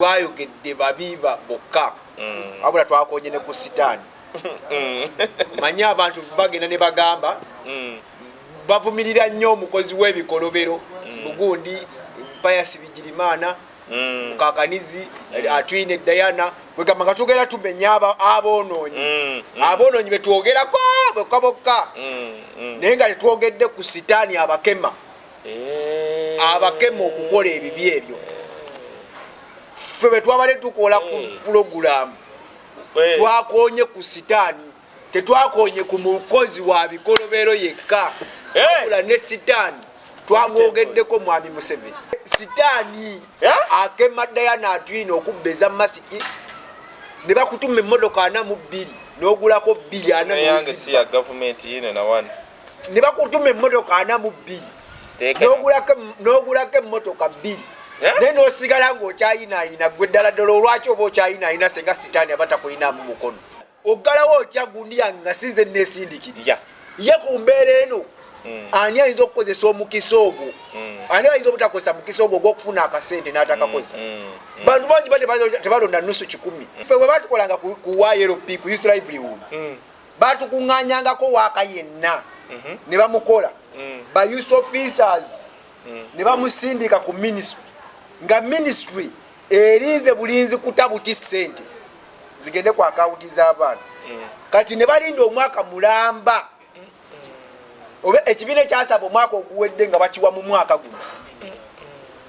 twayogedde babi bokka mm. wabula twakonye ne ku sitaani mm. manye abantu bagenda ne bagamba mm. bavumirira nnyo omukozi w'ebikolobero lugundi mpayasi bigirimana mukakanizi atwine dayana kwegamba nga tugenda tumenya aboononyi aboononyi betwogerako bokka bokka naye nga tetwogedde ku sitaani abakema eh. abakema okukola ebibi ebyo ffe bwe twabadde tukola ku eh. pulogulaamu eh. twakonye ku sitaani tetwakonye ku mukozi wa bikolobero yekka akula ne sitaani twamwogeddeko mwami museveni sitaani akema dayana atwina okubba eza masiki ne bakutuma emmotoka ana mu bbiri n'ogulako bbiri ana ne bakutuma emmotoka ana mu bbiri n'ogulako emmotoka bbiri eh? naye n'osigala ng'okyayinaayina gwe ddala ddala olwaki oba okyayinaayina senga sitaani aba takuyinaamu mukono oggalawo otya gundi yange nga sinze neesindikirira ye ku mbeera eno hmm. ani ayinza okukozesa omukisa ogwo hmm. ani ayinza obutakozesa mukisa ogwo ogwokufuna akasente n'atakakozesa hmm. bantu bangi ba tebalonda nusu kikumi fe bwe batukolanga ku yrp ku youth livelihood batukuŋŋanyangako waaka yenna mhm. ne bamukola mm. ba youth officers mm. ne bamusindika ku ministry nga ministry erinze bulinzi kuta buti ssente zigende ku akawunti z'abaana mm. kati ne balinda omwaka mulamba oba ekibiina ekyasaba omwaka oguwedde nga bakiwa mu mwaka guno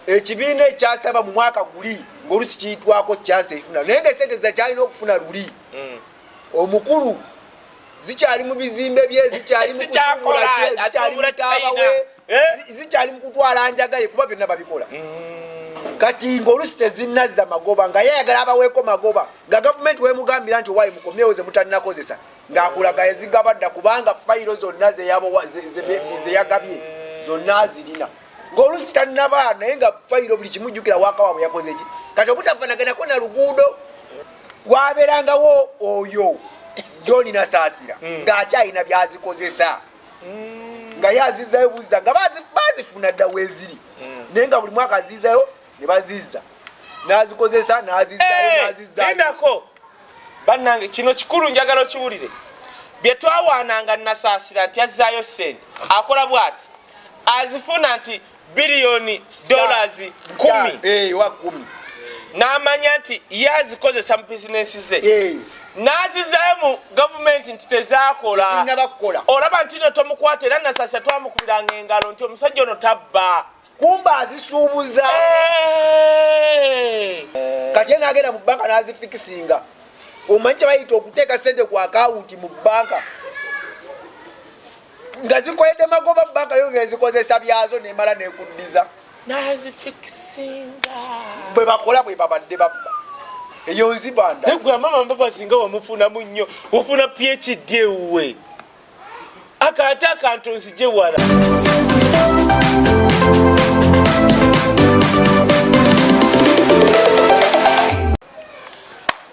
ekibiina ekyasaba mu mwaka guli ngaolusi kiyitwako kyasa efuna naye nga esente zakyalina okufuna luli omukulu zikyali mu bizimbe bye zikyali mu kusuubula kye zikyali mu taaba we eh? zikyali mu kutwala njaga ye kuba byonna babikola mm. kati ng'olusi tezinnazza magoba nga yayagala abaweeko magoba nga gavumenti wemugambira nti owayi mukomyewo ze mutalinakozesa ng'akulaga yazigabadda kubanga fayiro zonna zeyagabye zonna azirina ng'olusi tannaba naye nga fayiro buli kimu jjukira waaka waabwe yakoze ki kati obutafanaganako na luguudo wabeerangawo oyo joni nasaasira mm. ng'akyalina byazikozesa mm. nga ye azizayo buzza nga bazifuna dda weeziri mm. naye nga buli mwaka azizayo ne bazizza n'azikozesa n'azizayoazizako eh, bannange kino kikulu njagala okiwulire bye twawaananga nasaasira nti azzaayo ssente akola bw'ati azifuna nti biliyoni dollars kumi eh, n'amanya nti ye azikozesa mu bizinensi ze eh. n'azizayo mu gavumenti nti tezaakola olaba nti no tomukwata era nasasa twamukubiranga engalo nti omusajja ono tabba kumba azisuubuza eh. kati ye n'agenda mu banka n'azifikisinga omanyi kyebayita okuteeka sente ku akawunti mu banka nga zikoledde magoba banka yongera zikozesa byazo nemala nekuddiza nazifikisinga bwe bakola bwe babadde babba eyo nzibanda naye gwe amama mbabazi nga wamufunamu nnyo ofuna phd ewuwe akaate akantu nzije wala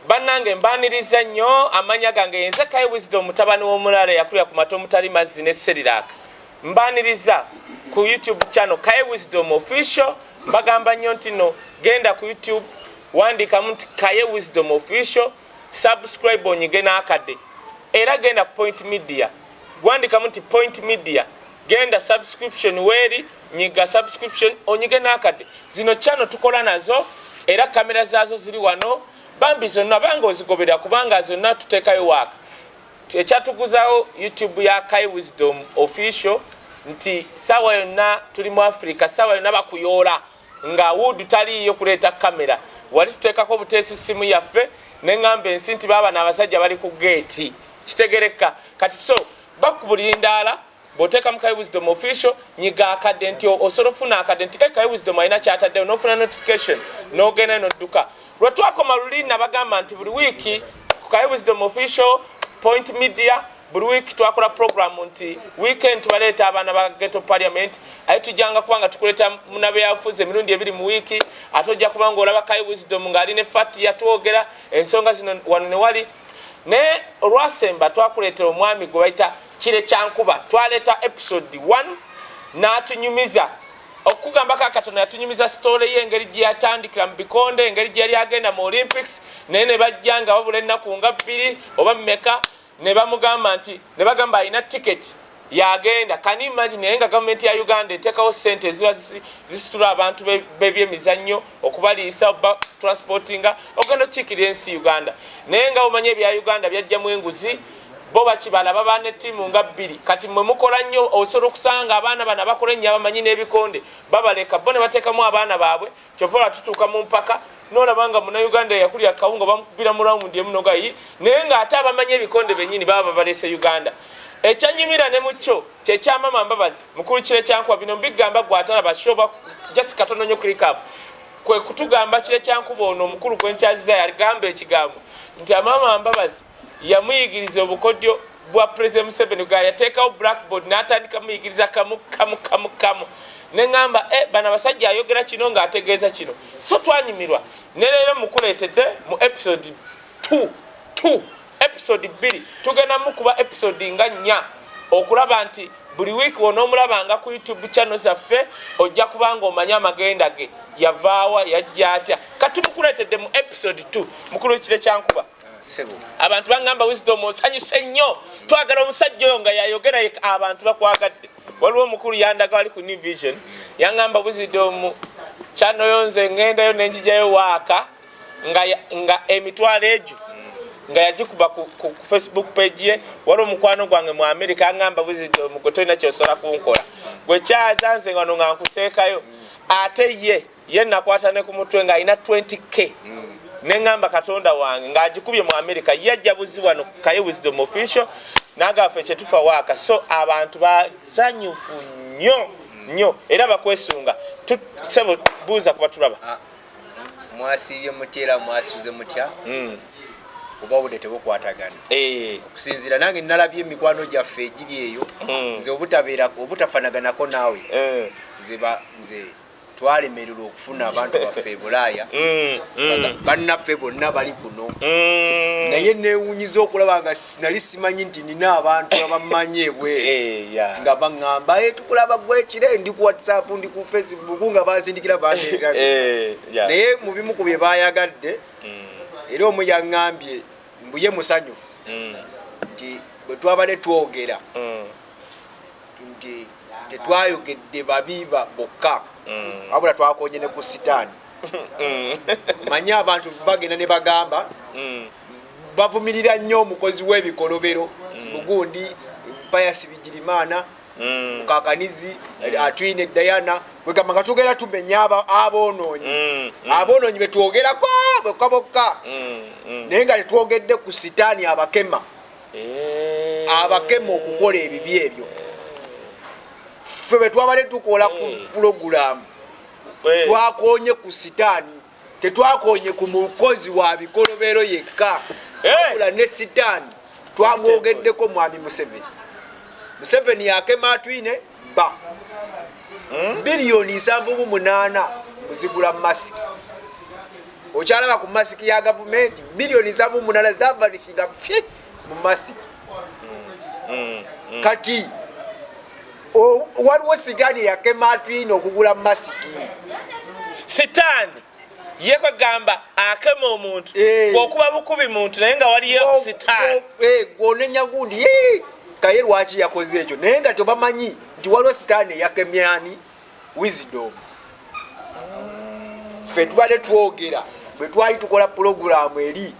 bannange mbaniriza nnyo amanya gange yenze kai wisdom mutabani w'omulaalo eyakulira ku mata omutali mazzi ne seriraka mbaniriza ku youtube channel kai wisdom official bagamba nnyo nti no genda ku youtube wandikamu nti kaye wisdom official subscribe onyige n'akadde era genda ku point media wandikamu nti point media genda subscription weeri nyiga subscription onyige n'akadde zino channel tukola nazo era kamera zaazo ziri wano bambi zonna banga ozigobera kubanga zonna tuteekayo waaka ekyatuguzawo youtube ya kai wisdom official nti sawa yonna tuli mu africa sawa yonna bakuyoola nga wood taliiyo kuleeta kamera wali tuteekako buteesi simu yaffe neŋamba ensi nti baabana abasajja bali ku geeti kitegereka kati so bakubulindaala bw'oteeka mu Kaye Wisdom official nyiga akadde nti osobola ofuna akadde nti eh, Kaye Wisdom alina kyataddewo n'ofuna notification n'ogenda n'odduka lwe twakoma luli nabagamba nti buli wiiki ku Kaye Wisdom official point media buli wiiki twakola programu nti weekend tubaleeta abaana ba ghetto parliament aye tujjanga kuba nga tukuleeta munabyabufuzi emirundi ebiri mu wiiki ate ojja kuba nga olaba Kaye Wisdom ng'ali ne fati yatwogera ensonga zino wano ne wali naye olwasemba twakuleetera omwami gwe bayita kire kyankuba twaleeta episode 1 n'atunyumiza okugamba ka katonda yatunyumiza sitole ye engeri gye yatandikira mu bikonde engeri gye yali agenda mu olympics naye ne bajja nga babula ennaku nga bbiri oba mumeka ne bamugamba nti ne bagamba alina tiketi yagenda kani imagine naye nga gavumenti ya uganda etekawo sente eziba zisitula abantu bebyemizannyo okubaliisa oba transportinga ogenda okukikirira ensi uganda naye nga omanya ebya uganda byajjamu enguzi bo bakibala baba ne tiimu nga bbiri kati mwe mukola nnyo osobola okusanga abaana bano abakola ennyo abamanyi n'ebikonde babaleka bo ne bateekamu abaana baabwe kyova ola tutuuka mu mpaka nolaba nga munauganda yakulira kawunga bamukubira mu rawundi emu nogayi naye ng'ate abamanyi ebikonde bennyini baba babalese uganda ekyanyumira ne mukyo kyekya mama mbabazi mukulu kire kyankuba bino mbigamba gwe atalaba shoba just katono nyo click up kwe kutugamba kire kyankuba ono omukulu gwe nkyaziza yagamba ekigambo nti amama mbabazi yamuyigiriza obukodyo bwa president museveni ga yateekawo blackboard n'atandika muyigiriza kamu kamu kamu kamu neŋamba e eh, bana basajja ayogera kino ng'ategeeza kino so twanyumirwa ne leero mukuleetedde mu episode 2 2 episode bbiri tugenda mukuba episode nga nnya okulaba nti buli wiiki wonoomulabanga ku youtube channel zaffe ojja kubanga omanya amagenda ge yavaawa yajja atya katumukuleetedde mu episode 2 mukulu kire kyankuba abantu bagamba wisdom osanyuse nnyo twagala omusajja oyo nga yayogera abantu bakwagadde waliwo omukulu yandaga wali ku new vision yangamba wisdom channel yo nze ngendayo nenjijayo waaka nga, nga emitwalo egyo nga yagikuba ku, ku, ku facebook page ye wali omukwano gwange mu amerika angamba buzidde omugo tolina kyosobola kunkola gwekyaza nze ngano nga nkuteekayo ate ye ye nakwata ne ku mutwe nga alina 20k mm. neŋamba katonda wange ng'agikubye mu amerika ye ajja buzi wano kaye wisdom official nagafe kyetufa waaka so abantu bazanyufu nnyo nnyo era bakwesunga sebo buuza kuba tulaba ah. mwasiibye mutya era mwasuze mutya hmm. oba obudde tebukwatagana eh. okusinziira nange nalabye emikwano gyaffe egiri eyo hmm. nze obutabeera obutafanaganako naawe eh. nze nze twalemererwa okufuna abantu baffe ebulaaya hmm, bannaffe bonna bali no mm. naye newunyiza okulaba nga nali simanyi nti nina abantu abammanyi ebwe eh, nga baŋamba eh, tukulaba gwekire ndi ku whatsapp ndi ku facebook nga bazindikira bandeeta eh, naye mu bimu ku bye bayagadde mm. era omu yaŋambye mbuye musanyufu mm. nti bwe twabadde twogera nti tetwayogedde babi bokka wabula twakonye ne ku sitaani manyi abantu bagenda ne bagamba mm. bavumirira nnyo omukozi w'ebikolobero mm. mugundi mpayasi bigirimana mm. mukakanizi atwine dayana kwegamba nga tugenda tumenya aboononyi aboononyi betwogerako bokka bokka naye nga tetwogedde ku sitaani abakema eh. abakema okukola ebibi ebyo ffe betwabadde tukola ku pulogulaamu twakonye ku sitaani tetwakonye ku mukozi wa bikolobero yekka wabula ne sitaani twamwogeddeko mwami museveni museveni yakematwine ba hmm? biliyoni nsanvu mu munaana kuzigula masiki okyalaba ku masiki ya gavumenti biliyoni nsanvu mu munaana zavanishinga fye mu masiki hmm. Hmm. kati waliwo sitaani eyakema atwina okugula masiki sitaani ye kwegamba akema omuntu eh. okuba bukubi muntu naye nga waliyo oh, sitaani oh, eh, gwonenya gundi kaye lwaki yakoze ekyo naye nga tebamanyi nti waliwo sitaani eyakemyani wisdom ffe tubadde twogera bwe twali tukola pulogulaamu eri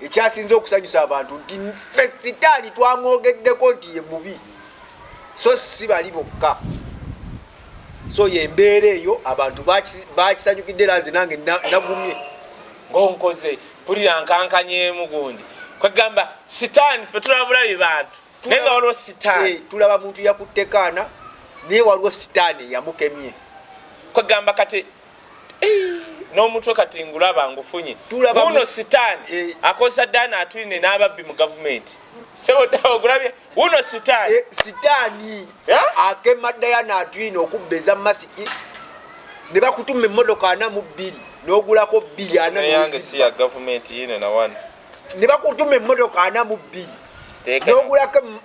ekyasinze okusanyusa abantu nti ffe sitaani twamwogeddeko nti ye mubi so si bali bokka so yembeera eyo abantu bakisanyukidde era nze nange nagumye ngonkoze pulira nkankanyemu gundi kwegamba sitaani fe tulabula be bantu naye nga waliwo sitaani eh, tulaba muntu yakuttekaana naye waliwo sitaani yamukemye kwegamba kati n'omutwe kati ngulaba ngufunye uno sitaani eh. akozesa daani atwine n'ababbi mu gavumenti sewogulabye uno sitaani eh, sitaani akema dayana atwine okubba eza masiki ne bakutuma emmotoka ana mu bbiri n'ogulako bbiri ana yange si ya gavumenti yine na wani ne bakutuma emmotoka ana mu bbiri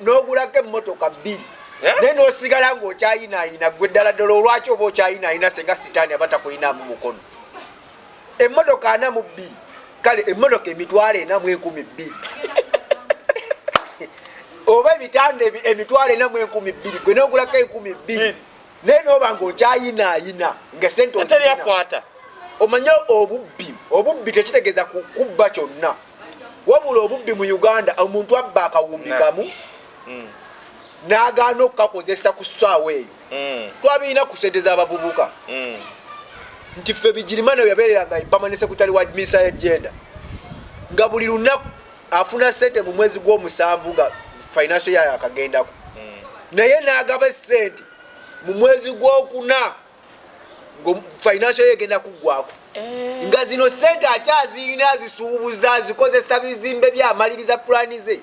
n'ogulako emmotoka bbiri eh? naye n'osigala ng'okyayinaayina gwe ddala ddala olwaki oba okyayinaayina senga sitaani aba takuyinaamu mukono emmotoka ana mu bbiri kale emmotoka emitwalo ena mu enkumi bbiri oba ebitanda emitwalo ena mu enkumi bbiri gwe n'ogulako enkumi bbiri naye noba nga okyayinaayina nga sente ozirina omanye obubbi obubbi tekitegeeza kubba kyonna wabula obubbi mu uganda omuntu abba akawumbi kamu mm. n'agaana okukakozesa ku ssaawa eyo mm. twabirina ku sente z'abavubuka mm. nti ffe bigirimana yabeereranga ipamane sekutale wa minisa ya jenda nga buli lunaku afuna sente mu mwezi gw'omusanvu nga financial yayo akagendako naye nagaba esente mu mwezi gw'okuna nga financial yayo egenda kuggwako eh. nga zino sente akyazirina zisuubuza zikozesa bizimbe byamaliriza pulani ze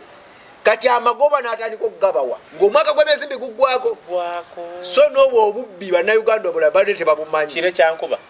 kati amagoba natandika okugabawa ngaomwaka gwemyezi biguggwako so nobwo obubbi bannayuganda obulala bade tebabumanyi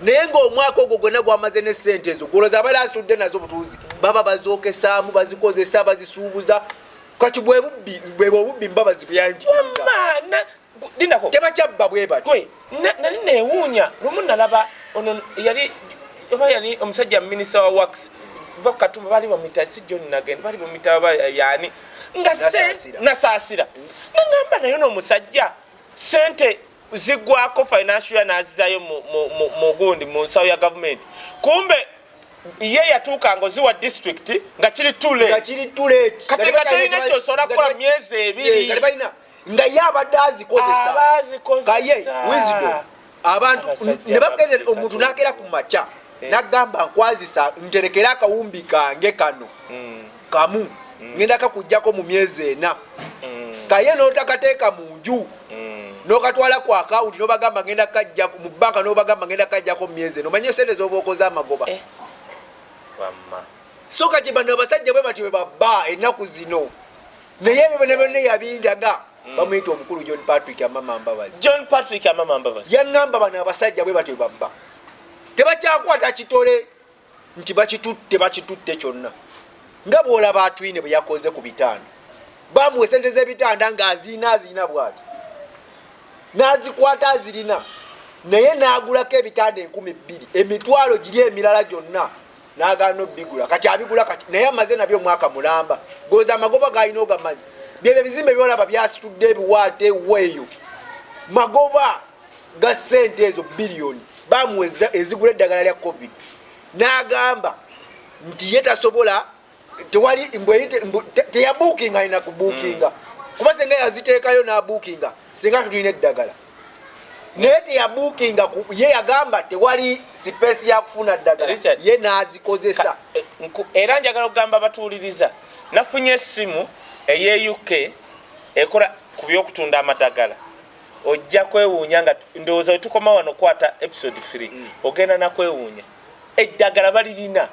naye ngaomwaka ogwo gwena gwamaze ne sente ezo goloza abali azitudde nazo butuuzi baba bazokesaamu bazikozesa bazisuubuza kati bwebwebwe obubbi mbabazi buyangitebakyabba bwebati nali newuunya lumu nalaba ono yali oba yali omusajja minisita wa wax va kukatumba bali bamwita si john nagen bali bamwita ba yani nga nasaasira nangamba naye noomusajja sente zigwako financial year nazizayo mugundi mu nsawo ya gavumenti kumbe ye yatuuka nga oziwa district nga kiri tulekati nga tolina kyosobola kukola myezi ebiri eh, nga ye abadde azikozesakaye wisdom abantu ne bagenda omuntu nagera ku makya eh. nagamba nkwazisa nterekere akawumbi kange kano hmm. kamu mm. ngenda kakujjako mu myezi ena mm. kaye notakateeka mu nju mm. nokatwala ku akawunti nobagamba ngenda kajja mu banka nobagamba ngenda kajjako mu myezi ena omanye esente zoba okoze amagoba eh. so kati bano abasajja bwe batyo bebabba ennaku zino naye ebyo byona byonna yabindaga mm. bamuyita omukulu john patrick amama mbabazi john patrick amama mbabazi yaŋŋamba bano abasajja bwe batyo babba tebakyakwata kitole nti bakitutte bakitutte kyonna nga bwolaba atwine bwe yakoze ku bitanda bamuwa esente z'ebitanda nga aziina aziina bwati n'azikwata azirina naye n'agulako ebitanda enkumi bbiri emitwalo giri emirala gyonna n'agaana obigula kati abigula kati naye amaze nabyo omwaka mulamba goza amagoba galina ogamanyi byebyo ebizimbe byolaba byasitudde ebiwaate weeyo magoba ga ssente ezo biliyoni bamuwa ezigula eddagala lya covid n'agamba nti ye tasobola tewali teyabuukinga alina kubuukinga mm. kuba senga yaziteekayo n'abuukinga senga tulina eddagala naye teyabuukinga ye yagamba tewali sipeesi yakufuna ddagala ye n'azikozesa eh, era njagala okugamba batuwuliriza nafunye essimu ey'euk ekola ku by'okutunda amadagala ojja kwewuunya nga ndowooza wetukoma wano okwata episode free mm. ogenda nakwewuunya eddagala balirina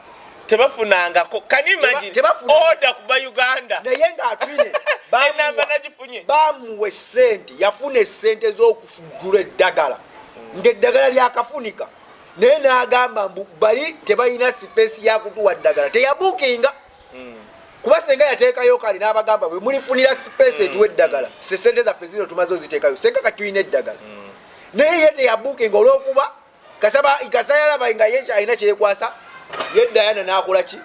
tebafunangako kanimagioda kuba uganda naye ngaatwineamba nagifunye bamuwa esente yafuna esente z'okufugula eddagala mm. ngaeddagala lyakafunika naye n'agamba mbu bali tebalina sipeesi yakutuwa ddagala teyabuukinga kuba senga yateekayo kale n'abagamba bwe mulifunira sipeesi etuwa eddagala sesente zaffe zino tumaze oziteekayo senga kati tulina eddagala naye ye teyabukinga olwokuba kasaba kasa yalaba nga ye alina kyeyekwasa ye dayana nakola ki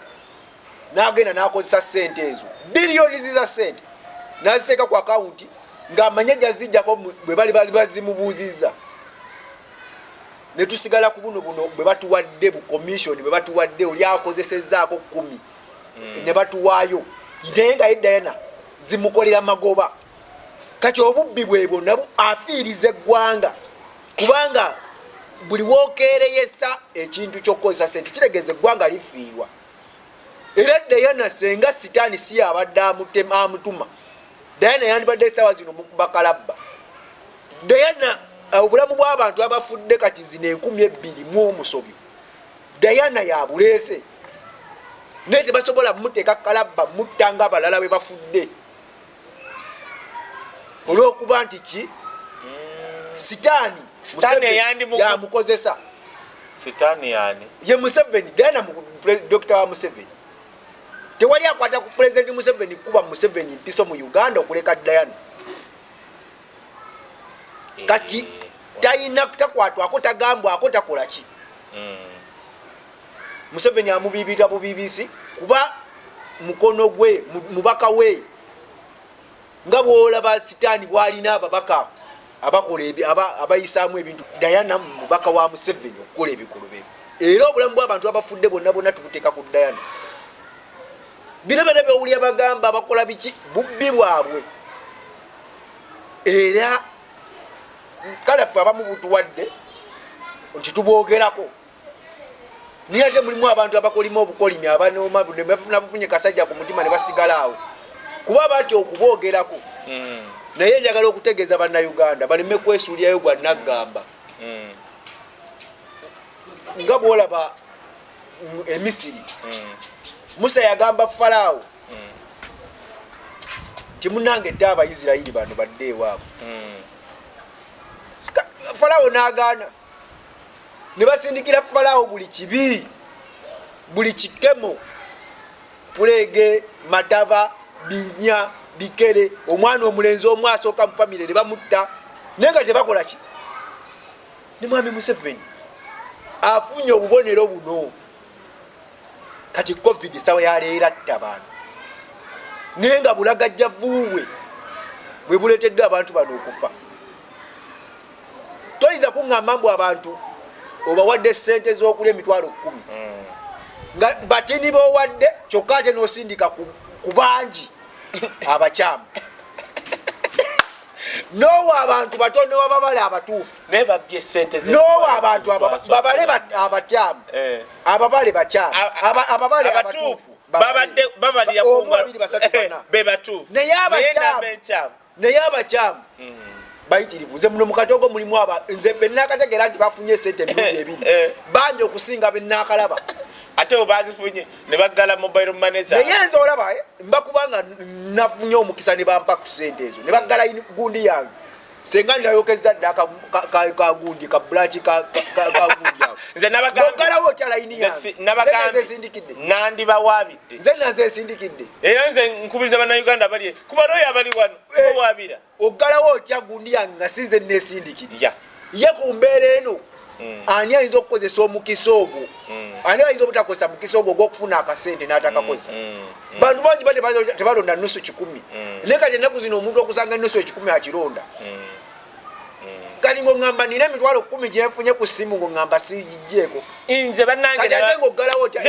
nagenda nakozesa sente ezo biliyoni ziza sente naziteeka ku akawunti ng'amanye jazijjako bwe bali bali bazimubuuzizza ne tusigala ku buno buno bwe batuwadde bu commission bwe batuwadde oli akozesezzaako kkumi mm. ne batuwaayo naye nga yeddayana zimukolera magoba kati obubbi bwebwo nabu afiiriza eggwanga kubanga buli wokeereyesa ekintu kyokukozesa sente kitegeeza eggwanga lifiirwa era eddayana senga sitaani si yabadde amutema amutuma dayana yandibadde esaawa zino mukubakalabba Diana eh, obulamu bw'abantu abafudde kati zino enkumi ebbiri mu omusobyo Diana yabuleese naye tebasobola muteeka kalabba mutta nga abalala bwe bafudde olw'okuba nti ki hmm. sitaani yamukozesa sitaani yani ye museveni diana dokita wa museveni tewali akwata ku pulezidenti museveni kukuba museveni mpiso mu uganda okuleka diana kati eh, talina takwatwako tagambwako takolaki mm. museveni amubibira bubibisi kuba mukono gwe mubaka we nga bwolaba sitaani bwalina ababaka abakola abayisaamu ebintu dayana mubaka wa museveni okukola ebikulu bye era obulamu bwabantu abafudde bonna bonna tubuteeka ku dayana bino byona byowulira bagamba bakola biki bubbi bwabwe era kale ffe abamu butuwadde nti tubwogerako naye ate mulimu abantu abakolima obukolimi abanooma bafuna bufunye kasajja ku mutima ne basigalaawo kuba batya okubwogerako hmm. naye njagala okutegeeza bannayuganda baleme kwesuulirayo gwa naggamba hmm. nga bwolaba e misiri mm. musa yagamba falaawo mm. timunange dde abaisirairi bano badde ewaabo mm. falaawo nagaana ne basindikira falaawo buli kibi buli kikemo puleege mataba binya bikere omwana omulenzi omu asooka mu famire ne bamutta naye nga tebakola ki ne mwami museveni afunye obubonero buno kati covid esawa yaleera dda abantu naye nga bulagajja vuubwe bwe buleeteddwa abantu bano okufa toyinza kuŋŋamba mbu abantu obawadde ssente z'okulya emitwalo kkumi hmm. nga batini b'owadde kyokka ate n'osindika ku bangi abakyamu nowa abantu bato newababale abatuufu naye babye sente nowa abantu babale abatyamu eh. ababale bakyamu ababale abatuufu babadde babalira kuomubiri basatu eh, bana be batuufu naye abakyamu naye abakyamu hmm. bayitirivu nze muno mukatogo mulimu aba nze benakategera nti bafunye esente emirundi ebiri eh. banja okusinga benakalaba ate bo bazifunye ne baggala mobile money za naye nze olaba eh, mba kubanga nafunye omukisa ne bampa ku sente ezo ne baggala gundi yange senga ndayokeza dda kagundi ka bulaaki kagundi ako nze nabagalawo otya layini yange nabagazesindikidde nandibawaabidde nze nazesindikidde era nze nkubiriza bannayuganda bali kuba looyo abali wano eh. owabira oggalawo otya gundi yange nga sinze nesindikirira ye ku mbeera eno mm. ani ayinza okukozesa omukisa ogwo mm. ani ayinza obutakozesa mukisa ogwo ogwokufuna akasente natakakozesa mm. bantu bangi ba tebalonda nusu kikumi naye kati enaku zino omuntu okusanga nusu ekikumi akironda kati ngongamba nina emitwalo kumi gyenfunye ku simu ngongamba sigijeeko nze banangeatenga oggalawo otya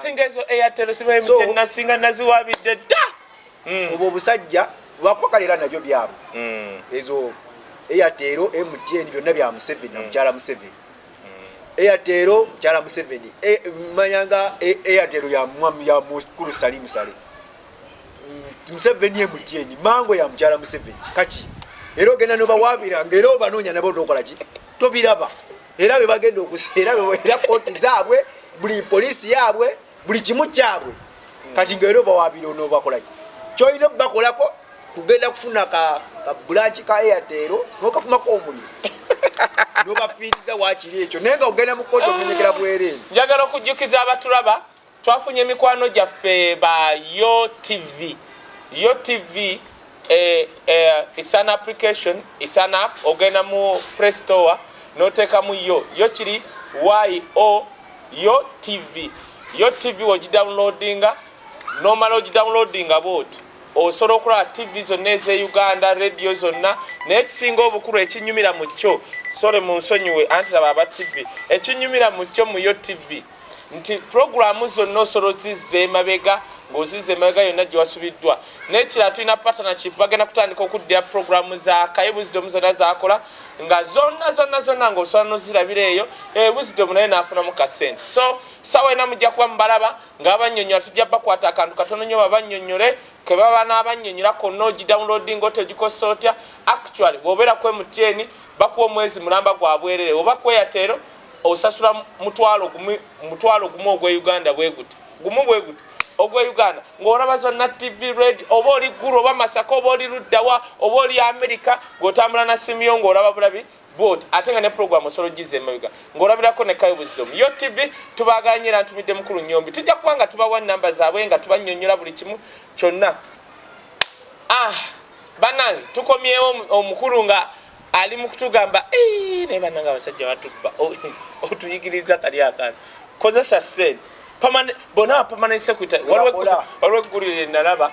singa ezo eyatero sibaemutenasinga naziwabidde dda mm. obwo obusajja lwakwagala era nabyo byabwe mm. ezo eyateero mtn byonna bya museveni namukyala mm. museveni eyateero mukyala museveni e, manyanga e, eyateero ya mukulu salimu sale museveni mtn mango ya mukyala museveni kati era ogenda nobawabira ngaera obanoonya nabo nokolaki tobiraba era bebagenda okusera era koti zaabwe buli polisi yaabwe buli kimu kyabwe kati nga era obawaabira onoobakolaki kyolina obakolako kugenda kufuna ka bulanki ka eyateero nokakumako omuliro nobafiiriza wakiri ekyo naye nga ogenda mu kkooti omenyekera bwereere njagala okujjukiza abatulaba twafunye emikwano gyaffe ba yo tv yo tv Eh, eh, it's an application, it's an app. Ogenda mu Play Store n'oteekamu yo yo kiri yo yo TV yo TV ogidownloadinga n'omala ogidownloadinga bwoti osobola okulaba tv zonna ez'e uganda radio zonna naye ekisinga obukulu ekinyumira mu kyo sole mu nsonyiwe anti laba aba tv ekinyumira mu kyo mu yo tv nti pulogulaamu zonna osobola ozizza emabega ng'ozizza emabega yonna gye wasubiddwa n'ekirala tulina partnership bagenda kutandika okuddira pulogulaamu za kaye wisdom zonna zakola nga zonna zonna zonna ng'osobola nozirabira eyo e wisdom naye naafunamu ka sente so sawa ena mujja kuba mubalaba nga babanyonyola tujja bakwata akantu katono nyo babanyonyole ke baba n'abanyonyola konna ogidownloadi nga otegikosa otya actually bwobeera kwe mutyeni bakuwa omwezi mulamba gwa bwerere oba kweyateero osasula mutwalo gumu mutwalo gumu ogwe Uganda bwe guti gumu bwe guti ogwe Uganda ng'olaba zonna TV red oba oli Gulu oba Masaka oba oli Luddawa oba oli Amerika ng'otambula na simu yo ng'olaba bulabi bwoti ate nga ne program osolo gize emabega ng'olabirako ne kayo buzidomu yo tv tubaagala nyo era ntumidde mukulu nyombi tujja kuba nga tubawa namba zaabwe nga tubanyonyola buli kimu kyonna ah banange tukomyewo omukulu nga ali mukutugamba naye bananga abasajja batubba otuyigiriza kali akana kozesa sen bona apamanent secretary waliwo eggulire nalaba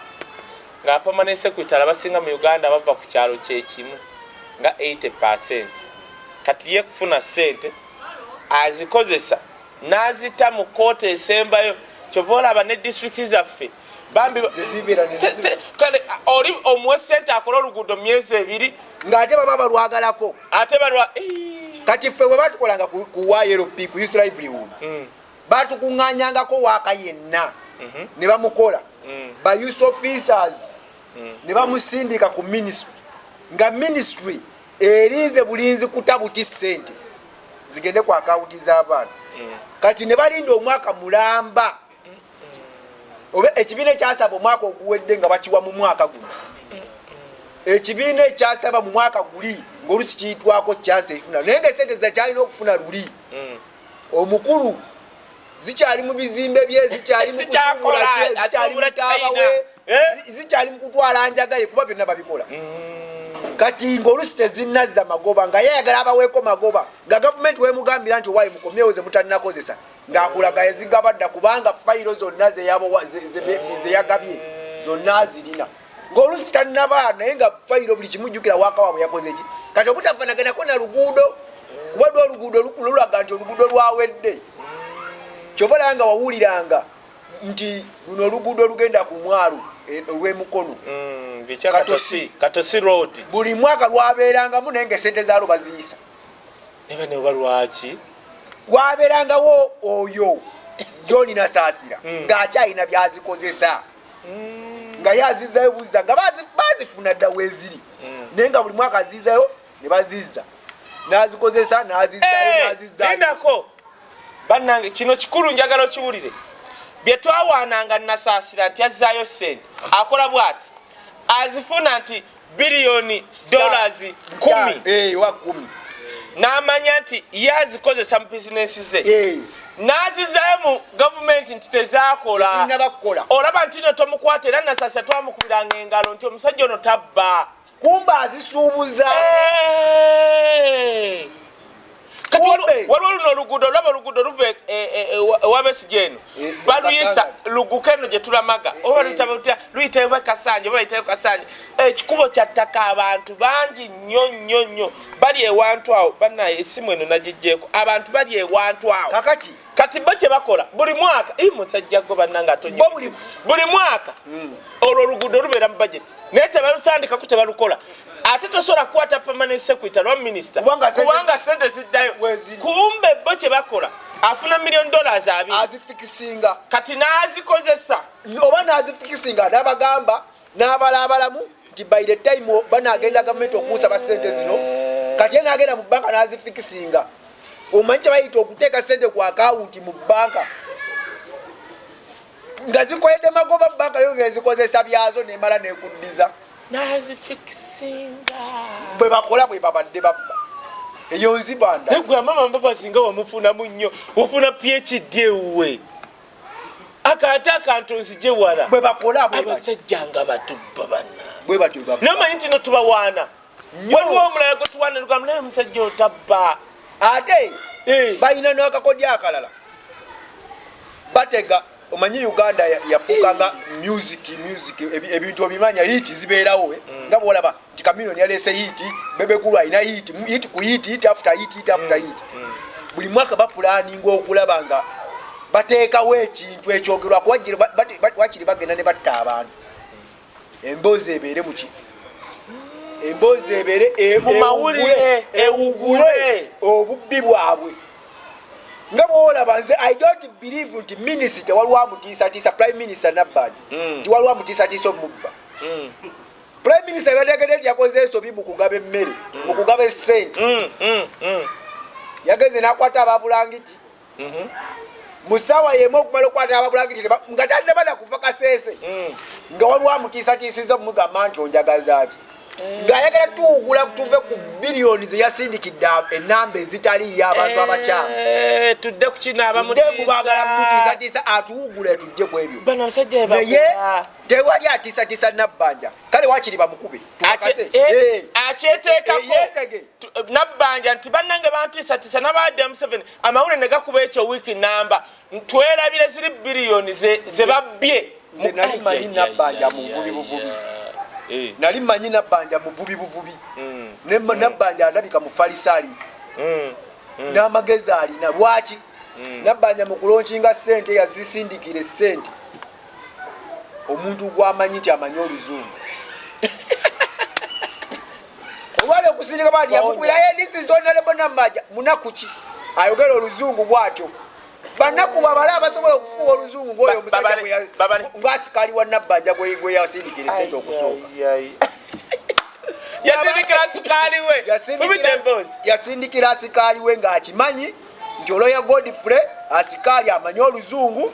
nga apamanent secretary abasinga mu uganda bava ku kyalo kyekimu nga 80 percent kati ye kufuna sente azikozesa nazita mu kooti esembayo kyova olaba ne disitulikiti zaffe bambi kale oli omuwe sente akola oluguudo myezi ebiri ngaate baba balwagalako ate balwa kati ffe bwe batukolanga ku yrp ku us livelihood mm. batukuŋanyangako waaka yenna mhm. ne bamukola mm. ba us officers mm. ne bamusindika ku ministry nga ministry erinze bulinzi kutabuti sente zigende ku akawunti z'abaana kati ne balinda omwaka mulamba oba ekibiina ekyasaba omwaka oguwedde nga bakiwa mu mwaka guno ekibiina ekyasaba mu mwaka guli ngaolusi kiyitwako kyansi ekifuna naye nga esente zakyalina okufuna luli mm. omukulu zikyali mu bizimbe bye zikyali mukutambulakyalimutabwe eh? zikyali mukutwala njagaye kuba byonna babikola mm. kati ngaolusi tezinazza magoba nga yayagala abaweeko magoba nga gavumenti wemugambira nti owaye mukomyewo ze mutanakozesa ng'akulaga yazigaba dda kubanga fayiro zonna zeyagabye zonna azirina ng'oluusi tannaba naye nga fayiro buli kimujjukira waakawa bwe yakoze ki kati okutafanaganako na luguudo kuba dwa oluguudo lulaga nti oluguudo lwawedde kyova olaba nga wawuliranga nti luno oluguudo olugenda ku mwalo e, olw'emukono mm, buli mwaka lwabeerangamu naye nga esente zaalwo baziyisa nebane oba lwaki waberangawo oyo joni nasasira hmm. ngaakyalina byazikozesa hmm. nga yazizayo buza nga bazifuna dda weziri hmm. naye nga buli mwaka azizayo nebaziza nazikozesa nazizayonazizaako eh, banange kino kikulu njagala okiwulire byetwawaananga nasasira nti azizayo sente akola bwati azifuna nti biliyoni dollars kumi eh, n'amanya nti ye azikozesa mu bizinensi ze eh. n'azizayo mu gavumenti nti tezaakola olaba nti no tomukwata era nasasa twamukubiranga engalo nti omusajja ono tabba kumba azisuubuza eh. kati waliwo luno oluguudo olaba oluguudo luva e, e, e, ewabesija eno baluyisa luguka eno gye tulamaga oba luyitaba lutya luyitayo bakasanja oba bayitayo kasanja ekikubo kyattaka abantu bangi nnyo nnyo nnyo bali ewantu awo banaye esimu eno nagijjeeko abantu bali ewantu awo kakati kati bo kyebakola buli mwaka i musajja gwe bannanga atonye buli mwaka hmm. olwo oluguudo lubeera mu bajeti naye tebalutandikako tebalukola ate tosobola kukwata permanent secretary lwa minisita kubanga sente ziddayo kumbe bo kyebakola afuna million dollars abiri azifikisinga kati n'azikozesa oba n'azifikisinga n'abagamba n'abala abalamu nti by the time banagenda gavumenti okunsaba sente zino kati enagenda mu banka nazifikisinga omanyi kyebayita okuteeka sente ku akawunti mu banka nga zikoledde magoba banka yo ngezikozesa byazo nemala nekuddiza nazifikisinga bwe bakola bwe babadde babba eyo nzibanda naye gwe amama mbabazi nga wamufunamu nnyo ofuna phd ewuwe akaate akantu nzije wala bwebakolabasajja nga batubba bananamanyi ntino tubawaana waliwo omulala gwetuwaana lugamu naye omusajja otabba ate eh. balina nakakodya akalala batega omanyi uganda yafuuka nga music music ebintu obimanya hit zibeerawo eh? mm. nga bwolaba Ti Chameleone yalese hit, Bebe Cool alina hit, hit ku hit, hit after hit, hit after mm. hit. Mm. Buli mwaka ba planning okulaba nga bateekawo ekintu ekyogerwa kuba wakiri bagenda ne batta abantu. Emboozi ebeere mu ki? Emboozi ebeere e-, mu mawulire ewugule obubbi bwabwe. nga bwolaba nze i don't believe nti minisita waliwo amutiisatiisa prime minister nabbanja mm. nti waliwo amutiisatiisa omubba mm. Prime Minister yategedde nti yakoze ensobi mu kugaba emmere mu kugaba essente mm, mm, mm. yagenze n'akwata ababulangiti mm-hmm. mu ssaawa yemu okumala okukwata ababulangiti nga tannabana kuva kaseese nga waliwo amutiisatiisiza okumugamba nti onjagazaaki ng'ayagala tuwugula tuve ku biliyoni ze yasindikidde enamba ezitaliiyo abantu abakyamu eh, tudde ku kino abamutiisa mutiisatiisa atuwugule tujje ku ebyo naye tewali atisatisa nabbanja kale wakiri bamukube akyeteekakoyetege nabbanja nti bannange bantiisatiisa nabaadde museveni amawulire ne gakuba ekyo wiiki namba twelabire ziri biriyoni ze babbye nze nali manyi nabbanja mu buvubi buvubi eh. nali manyi nabbanja muvubi buvubi hmm. nabbanja hmm. alabika mufalisaali hmm. n'amagezi alina lwaki nabbanja mu kulonkinga ssente yazisindikira essente omuntu gwamanyi nti amanyi oluzungu olwali okusindika bati yamukubiraye lisizonalebonamaja munaku ki ayogera oluzungu bwatyo banaku babale abasobola okufuuwa oluzungu ngaoyo omusajja ngaasikali wa nabbanja gweyasindikira esente okusooka yasindikira asikaali we ngaakimanyi nti oloya godfrey asikaali amanyi oluzungu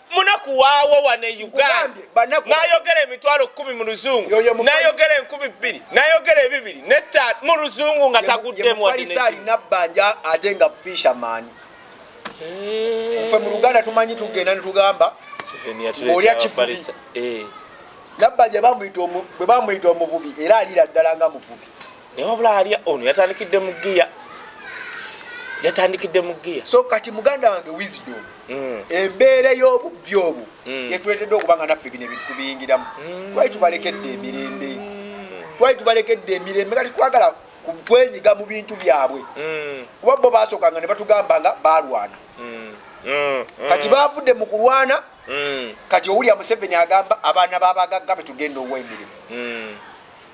munaku waawo wano e uganda nayogera emitwalo kumi mu luzungu nayogera enkumi bbiri nayogera ebibiri neta mu luzungu nga taguddemu alina bbanja ate nga fisherman eh. fe mu luganda tumanyi tugenda netugamba olya kivubi eh. nabbanja bwe bamuyita omuvubi era alira ddala nga muvubi naye wabula alya ono yatandikidde mu giya yatandikidde mu giya so kati muganda wange wisdom mm. embeera ey'obubbi obu mm. yetuleetedde okuba nga naffe bino ebintu tubiyingiramu mm. twali tubalekedde emirembe twali tubalekedde emirembe kati twagala kwenyiga mu bintu byabwe kuba bo basookanga ne batugamba nga balwana kati bavudde mu kulwana kati owulya museveni agamba abaana babagagga betugenda owa emirimu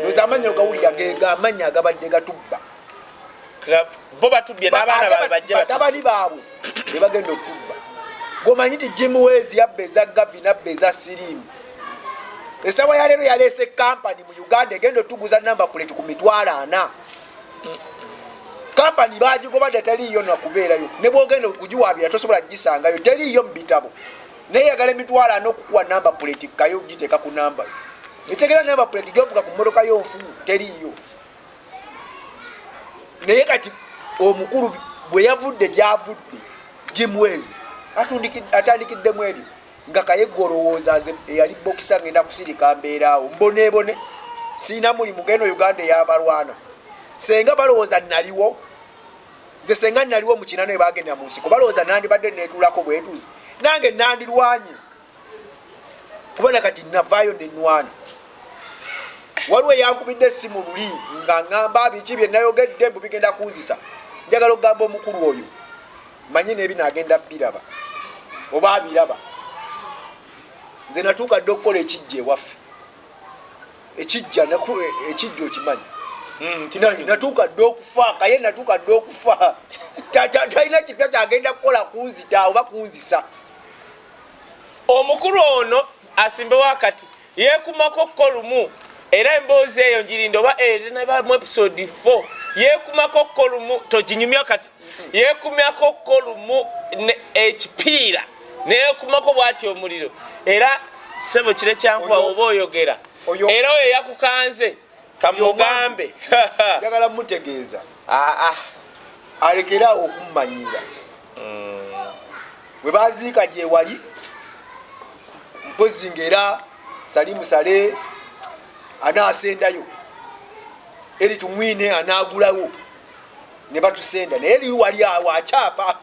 ndoza amanya ogawulira ngamanya agabadde gatubba bo batubbye n'abaana baabwe bajje batabani baabwe ne bagenda okutubba gomanyi nti jim wes yabba eza gavi nabba eza sirimu esawa ya leero yaleese kampani mu uganda egenda otuguza namba kuleti ku mitwalo ana kampani baagigobadde taliiyo nakubeerayo ne bwogenda okugiwaabira tosobola kugisangayo teriiyo mu bitabo neyagala emitwalo ana okukuwa namba puleti kayo okugiteeka ku namba ekyegera namba puleti gyovuga ku mmotoka yonfu teriiyo naye kati omukulu bwe yavudde gyavudde gimwezi atandikiddemu ebyo nga kayegga olowooza nze eyali bokisa ngenda kusirika mbeeraawo mboneebone siina mulimu geno uganda eyabalwana senga balowooza naliwo nze senga naliwo mukina naye bagenda mu nsiko balowooza nandibadde netuulako bwetuuzi nange nandirwanye kubona kati navaayo nenwana waliwo eyankubidde esimu luli nga ngamba biki byenayogedde mbu bigenda kunzisa njagala okugamba omukulu oyo manyi nebino agenda biraba oba abiraba nze natuuka dde okukola ekijja ewaffe ekijja ekijja okimanyi hmm, natuuka dda okufa kaye natuuka dda okufa talina kipya kyagenda kukola kunzita oba kunzisa omukulu ono asimbewo akati yekumako ko lumu era emboozi eyo njirinda oba erinaba eh, mu episode 4 yekumako ko lumu toginyumya kati yekumyako ko lumu ekipiira neyekumako bwati omuliro era sebo kire kyankuba oba oyogera era oyo yakukanze kamugambe njagala mutegeeza aa ah, ah. alekera okumumanyira mm. we baziika gyewali mpozi ngaera salimu sale anaasendayo eri tumwine anaagulawo ne batusenda naye liri wali awo akyapa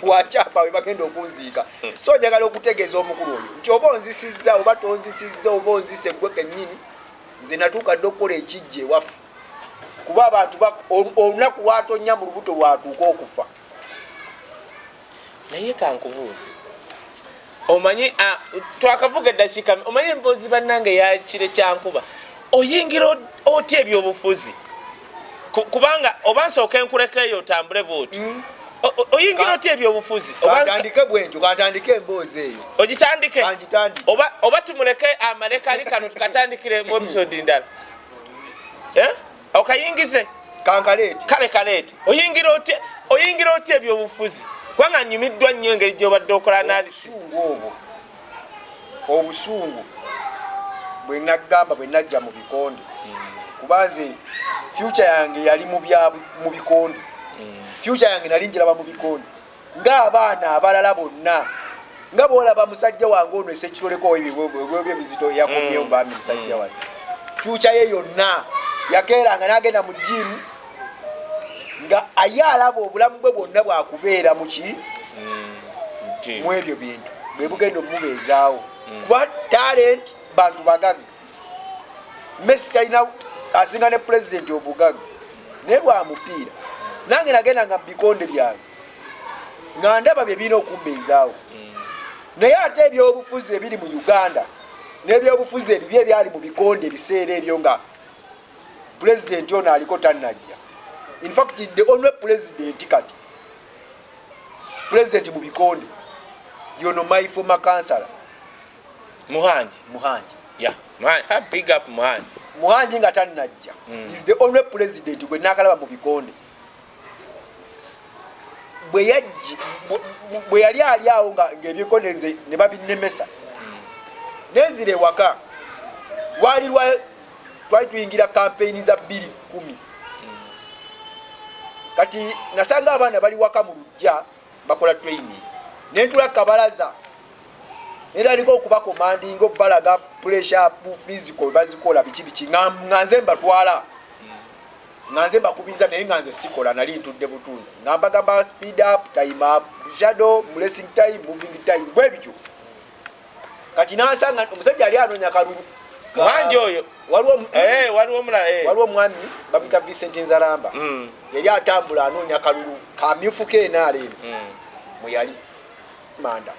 wakyapa we bagenda okunziika so njagala okutegeeza omukulu oyo nti oba onzisizza oba tonzisizza oba onzise gwe kennyini nze natuuka dde okukola ekijja ewaffe kuba abantu olunaku lwatonnya mu lubuto lwatuuka okufa naye kankubuuzi omanyi twakavuga eddakiika omanyi emboozi bannange yakire kyankuba oyingira otya ebyobufuzi kubanga oba nsooka enkuleka eyo otambule bwoti mm. oyingira otya ebyobufuzi atandike bwentyo katandike emboozi eyo ogitandike oba tumuleke amaleka ali kano tukatandikire mu episode ndala eh? okayingize kankaleeti kale kaleeti oyingira otya oyingira otya ebyobufuzi kubanga nyumiddwa nnyo engeri gyobadde okola analysis obwo obusungu bwenagamba bwenajja mu bikonde hmm. kuba nze fyuca yange yali mu bikonde hmm. fyuca yange nali njiraba mu bikonde ng'abaana abalala bonna nga bwolaba musajja wange ono esekiroleko ebizito yakomyewo mm. bambi musajja mm. wange fyuca ye yonna yakeeranga n'agenda mu jimu nga aye alaba obulamu bwe bwonna bwakubeera muki mm. mu ebyo bintu bwe bugenda omumubeezaawo kuba talenti bantu bagagga messi talina asinga ne pulezidenti obugaga naye lwa mupiira nange nagenda nga mubikonde byange nga ndaba bye birina okumbeezaawo naye ate ebyobufuzi ebiri mu uganda n'ebyobufuzi ebibi ebyali mu bikonde ebiseera ebyo nga pulezidenti ono aliko tannajja infact the only pulezidenti kati pulezidenti mu bikonde yono my former councilor Muhangi. Muhangi. Yeah. Man, ha, big up Muhangi. Muhangi nga tanajja. Mm. Is the only president gwe nakalaba mu bikonde. Bwe yajji bwe yali ali awo nga ngebikonde nze ne babinemesa. Mm. Nenzire waka. Wali lwa twali tuyingira campaign za 210. Mm. Kati nasanga abana bali waka mu lujja. bakola training nentula kabalaza neraliko okuba komandinga okubalaga pressure physical bazikola biki biki nga nze mbatwala nga nze mbakubiriza naye nga nze sikola nali ntudde butuuzi nga mbagamba speed up time up shadow blessing time moving time bwebityo kati nasanga omusajja yali anoonya kalulu mwanje oyo waliwo eh, waliwo omulala eh. waliwo omwami bamuyita Vincent Nzaramba mm. yali atambula anoonya kalulu kamyufu keenaala eno mm. mweyali manda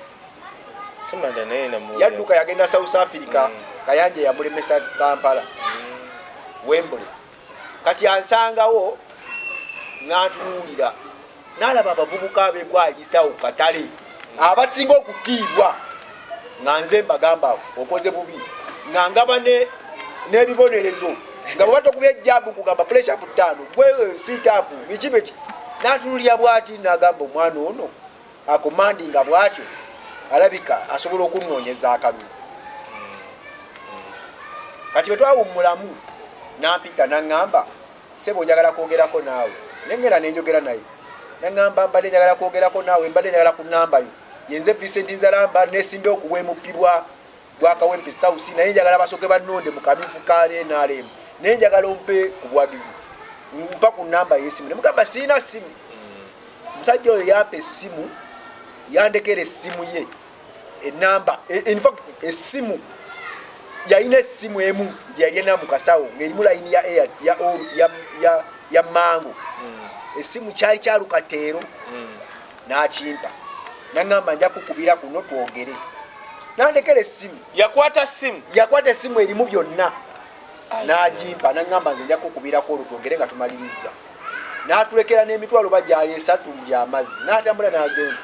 yadduka yagenda south africa mm. kayanja yamulemesa kampala wembule kati ansangawo n'atunuulira n'alaba abavubuka abegwayisawo katale abasinga okutiibwa nga nze mbagamba okoze bubi nga ngaba n'ebibonerezo nga bwe batokuba ejjaabu kugamba puresha ku ttaano gwe eh, siitaapu biki biki n'atunuulira bwati n'agamba omwana ono akomandinga bwatyo alabika asobola okunonyeza akalulu kati bwetwawummulamu nampita naŋŋamba sebo njagala kwogerako naawe nengenda nenjogera naye naŋŋamba mbadde njagala kwogerako naawe mbadde njagala ku nambayo yenze vincent nzalamba nesimbe okuwemuppibwa gwa Kawempe House naye njagala basoke banonde mu kabifu ka NRM naye njagala ompe obwagizi mpa ku namba y'essimu ne mugamba sirina ssimu omusajja oyo yampa essimu yandekera essimu ye enamba e, infact essimu yalina essimu emu gyeyalina mu kasawo ng'erimu layini ya air ya ya ya mango hmm. essimu kyali kyalukateero hmm. n'akimpa naŋŋamba nja kukubira kuno twogere nandekera essimu yakwata ssimu yakwata essimu erimu byonna n'agimpa naŋŋamba nze nja kukubirako olwo twogere nga tumaliriza n'atulekera n'emitwalo ba gyali esatu gy'amazzi n'atambula n'agenda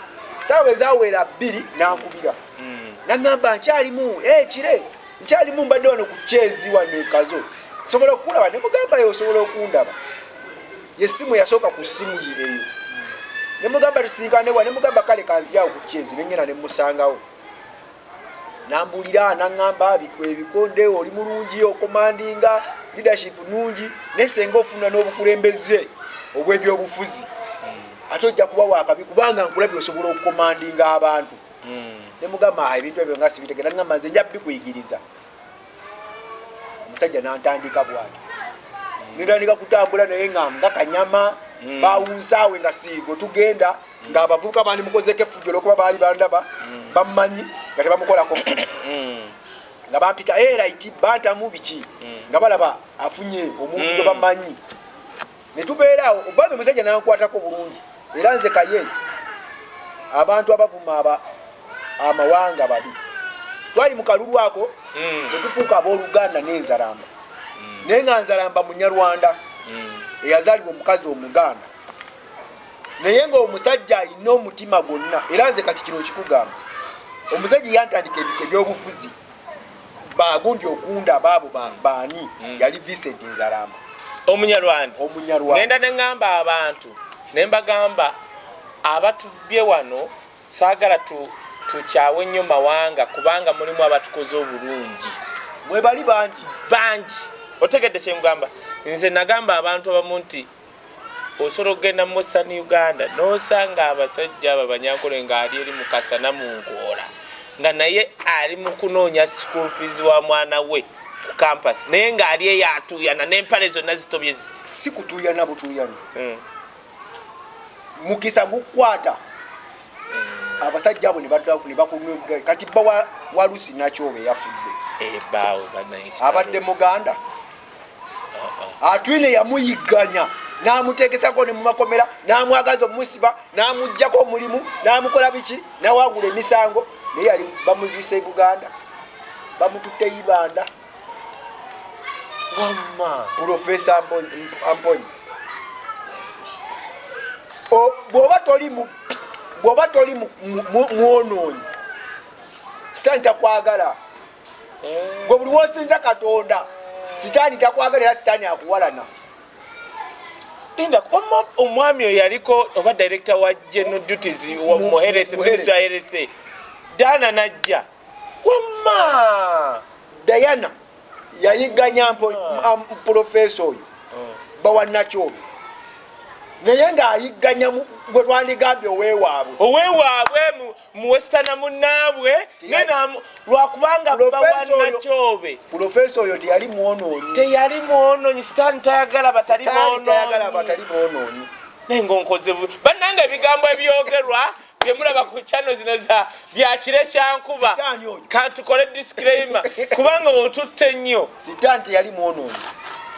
saawa ezawera bbiri n'ankubira hmm. naŋŋamba nkyalimu ekire eh, nkyalimu mbadde wano ku kyezi wano ekazo sobola okukulaba ne mugamba yo osobola okundaba yesimu yasooka ku simu yireyo ne mugamba tusinkanewa ne mugamba kale kanziyawo ku kyezi nengena ne musangawo nambulira nangamba ebikonde oli mulungi okomandinga leadership nungi naye senga ofuna n'obukulembeze obw'ebyobufuzi ate ojja kuba wakabi kubanga nkulabye osobola okukomandinga abantu hmm. ne mugamba ah, ebintu ebyo nga sibitegera ngamba nze nja bikuyigiriza omusajja nantandika bwati hmm. nentandika kutambula naye nga nga kanyama hmm. bawunsaawe nga siigo tugenda nga abavubuka bandi mukozeko efujjo olwokuba baali bandaba bammanyi nga tebamukolako nga bampita erit eh, bantamu biki nga balaba afunye omuntu gwe bamanyi ne tubeera awo obambi musajja nankwatako bulungi era nze kaye abantu abavuma aba amawanga babi twali mu kalulu ako hmm. ne tufuuka abooluganda n'enzalamba hmm. naye nga nzalamba munyarwanda hmm. eyazaalibwa omukazi omuganda naye ngaomusajja alina omutima gwonna era nze kati kino kikugamba omusajja yantandika ebyobufuzi bagundi ogunda abaabo baani hmm. yali Vincent Nzaramba omunyarwanda omunyarwanda ngenda ne ngamba abantu ne mbagamba abatubye wano saagala tu tukyawe nnyo mawanga kubanga mulimu abatukoze obulungi mwebali bangi bangi otegedde kyengamba nze nagamba abantu abamu nti osobola okugenda mu western uganda nosanga abasajja abo abanyankole nga ali eri mukasa namunkoola nga naye ali mukunoonya school fees wa mwana we ku campus naye nga ali eyo atuuyana nempale zonna zitobye ziti si kutuuyana butuuyana hmm. mukisa gukwata hmm. abasajja abo nebakunga kati bba walusi nakyoba eyafudde eh, abadde muganda atwine yamuyigganya n'amuteekesako ne mu makomera n'amwagaza okumusiba n'amugjako omulimu n'amukola biki nawangula emisango naye yali bamuziisa e buganda bamututte ibanda wamma pulofesa amponyi bwoba toli mubbi bwoba toli mwonoonyi sitaani takwagala gwe buli wosinza katonda sitaani takwagala era sitaani akuwalana omwami oyo yaliko oba director wa general duties muherethemuherethe dana najja wamma diana yayiganya mpo ah. um, profesa oyo oh. bawanakyobi naye ng'ayigganya gwe twandigambye owewaabwe owewaabwe muwesitana munnaabwe nenamu lwakubanga bawanakyobe pulofeesa oyo teyali mwonoonyi teyali mwonoonyi sitaani tayagala batali boonoonyi naye ngaonkoze bannanga ebigambo ebyogerwa byemulaba ku kyano zino za byakire kyankuba kantukole disclaimer kubanga otutte nnyo sitaani teyali mwonoonyi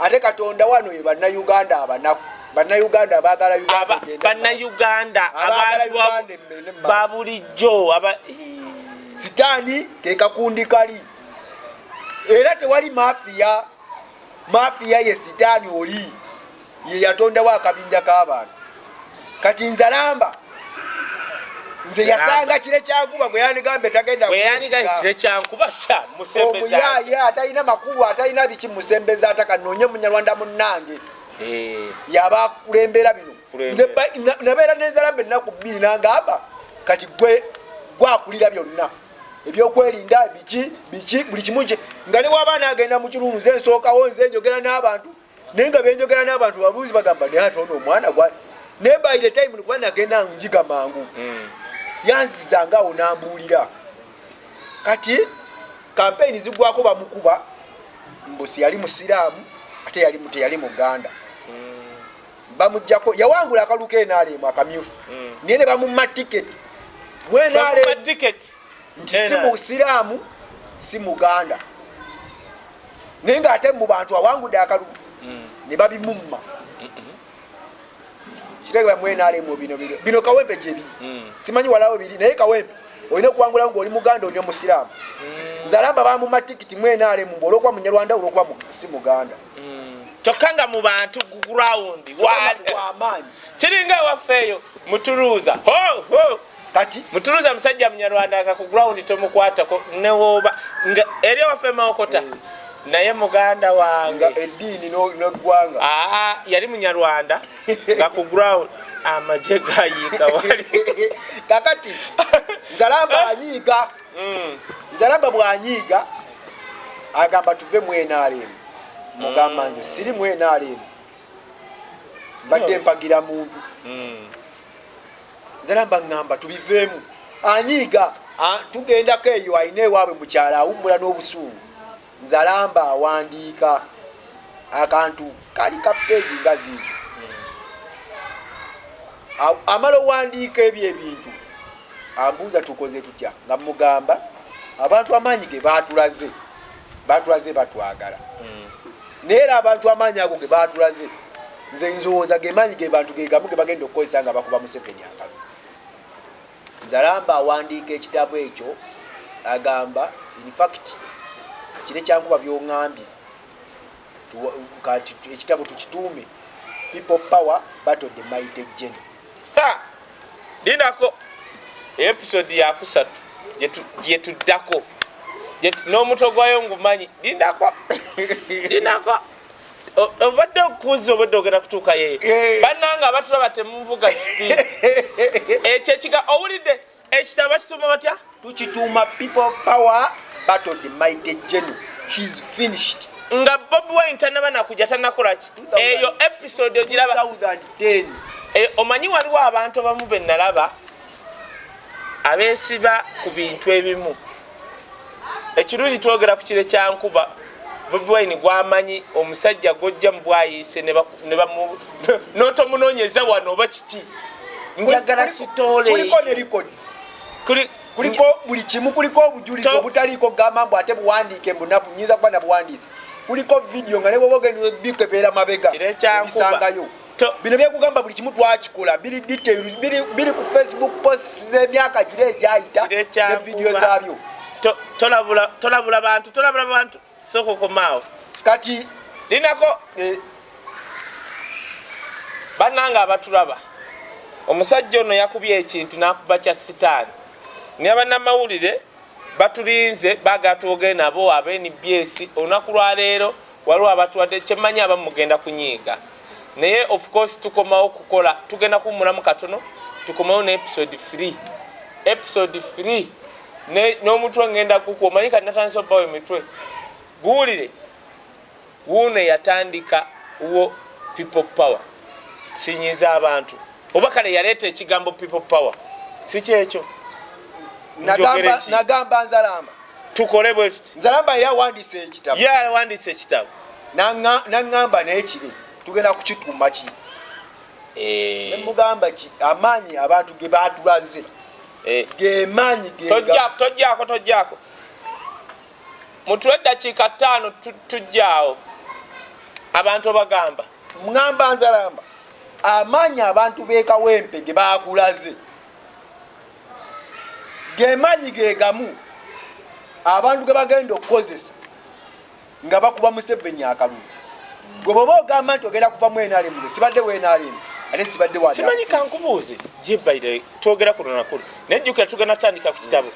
ate katonda wano ye bannayuganda abanaku bannayuganda abaagala bannayuganda abantu babulijjo sitaani kekakundi kali era tewali mafiya mafiya ye sitaani oli ye yatondawo akabinja k'abantu kati nzalamba nze yasanga kire kyankuba gwe yanigambye tagenda kire kyankuba sha musembeza omuyaye atalina makulu atalina biki musembeza ataka nonye munyarwanda munange eh. yaba akulembera bino nze nabeera nenzalambe ennaku bbiri nangamba kati gwe gwakulira byonna ebyokwerinda biki biki buli kimu kye nga ne wabaana agenda mu kirungu nze nsookawo nze njogera n'abantu naye nga benjogera n'abantu babuuzi bagamba naye ate ono omwana gwa naye by the time nikuba nagenda njiga mangu hmm. yanziza nga awo nambuulira kati kampeyini zigwako bamukuba mbusi yali musiraamu ate yali teyali muganda hmm. bamujjako yawangula akaluka enaalemu akamyufu hmm. naye ne bamumma tiketi mwenaalemu nti si musiraamu si muganda naye nga ate mu bantu awangude akalubu mm. ne babimumma kitegera mwenalemu bino bino bino kawempe gyebiri mm. simanyi walawo biri naye kawempe olina okuwangulawo ngaoli muganda oli omusiraamu mm. nze alamba bamuma tikiti mwenalemu mbu olwokuba munyarwanda olwokuba si muganda kyokka nga mu bantu gurawundi wamaanyi kiringa ewaffe eyo mutuluuza ho ho kati mutuluza musajja munyarwanda nga ku ground tomukwatako newoba nga eri waffe mawokota mm. naye muganda wange eddiini neggwanga aa yali munyarwanda nga ku ground amaje gayiika wali kakati nzalamba anyiiga mm. nzalamba bwanyiiga agamba tuve mu nrm mugamba nze siri mu nrm mbadde mpagira muntu mm. nzeramba ngamba tubiveemu anyiiga tugendako eyo alina ewaabwe mukyalo awummula n'obusuulu nzalamba awandiika akantu kali ka peegi nga ziizo amala owandiika ebyo ebintu ambuuza tukoze tutya nga mugamba abantu amaanyi ge batulaze batulaze batwagala hmm. naye era abantu amaanyi ago ge baatulaze nze nzowooza ge maanyi ge bantu ge gamu ge bagenda okukozesa nga bakuba museveni akalu nzalamba awandiika ekitabo ekyo agamba infact kire kyankuba byongambye kati ekitabo tukituume people power battle the mighty general linako episode yakusatu gyetuddako n'omutwe gwayo ngumanyi lindako lindako obadde okuuza obadde ogenda kutuuka yeye eh. bananga abatulaba temunvuga speed ekyo ekiga owulidde ekitabo bakituuma batya tukituuma people power battle the mighty general he's finished nga bobi wine tanaba nakuja tanakolaki eyo episode ogiraba eh, omanyi waliwo abantu abamu benalaba abesiba ku bintu ebimu ekirungi twogera ku kire kya nkuba bobi wine gwamanyi omusajja gwojja mubwayiise notomunonyeza wano oba kiki njagala sitoolekuliko buli kimu kuliko obujulizi obutaliiko kugamba mbu ate buwandiike mbunabu nyinza kuba nabuwandiise kuliko vidiyo nga nebwoba ogenda bikebera mabega bisangayo bino byekugamba buli kimu twakikola biri detail biri ku facebook posts z'emyaka gira egyayita ne vidiyo zaabyo tolabula bantu tolabula bantu soko komaawo kati linako eh. bannange abatulaba omusajja ono yakubye ekintu nakuba kya sitaani naye bannamawulire batulinze bagatwoge nabo abenbyesi olunaku lwaleero waliwo abatuwadde kyemmanyi abamu mugenda kunyiiga naye of course tukomawo kukola tugenda kuwumulamu katono tukomawo ne episode 3 episode 3 n'omutwe ngenda kukuwa omanyi kati natandisa obbawo emitwe guwulire wuuno eyatandika wo people power sinyiza abantu oba kale yaleeta ekigambo people power si kyekyo nagamba nzalamba tukole bwe tuti nzalamba yali awandiisa ekitabo ye awandiisa ekitabo naŋŋamba naye kiri tugenda kukikuuma ki eh. nemugamba ki amaanyi abantu ge baatulaze eh. gemaanyi tojjako tojjako mutuwe eddakiika ttaano tujjaawo abantu obagamba ŋŋamba nzalamba amaanyi abantu beekawempe ge baakulaze gemanyi gegamu abantu gebagenda okukozesa nga bakuba museveni akalulu gwe bwoba ogamba nti ogenda kuva mwnrm ze sibadde wnrm ate sibadde simanyi kankubuuze jebaire twogera ku lunakulu naye jjukira tugenda tandika ku kitabo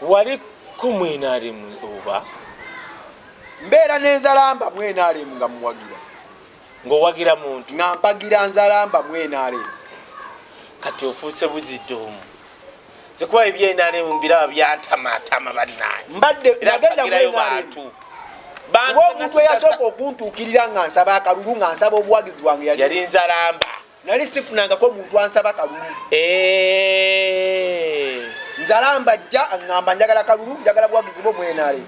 wali ku mwnrm oba mbeera nenzalamba mwnrm nga muwagira ng'owagira muntu nga mpagira nzalamba mu nrm kati ofuuse buzidde omu zikuba ebyenrm biraba byantamaatama bannaye mbadde nagenda mu nrm bantu omuntu eyasooka okuntuukirira nga nsaba akalulu nga nsaba obuwagizi bwange yali nzalamba nali sifunangako muntu ansaba kalulu eh. nzalamba jja aŋamba njagala kalulu njagala buwagizi bwo mwenale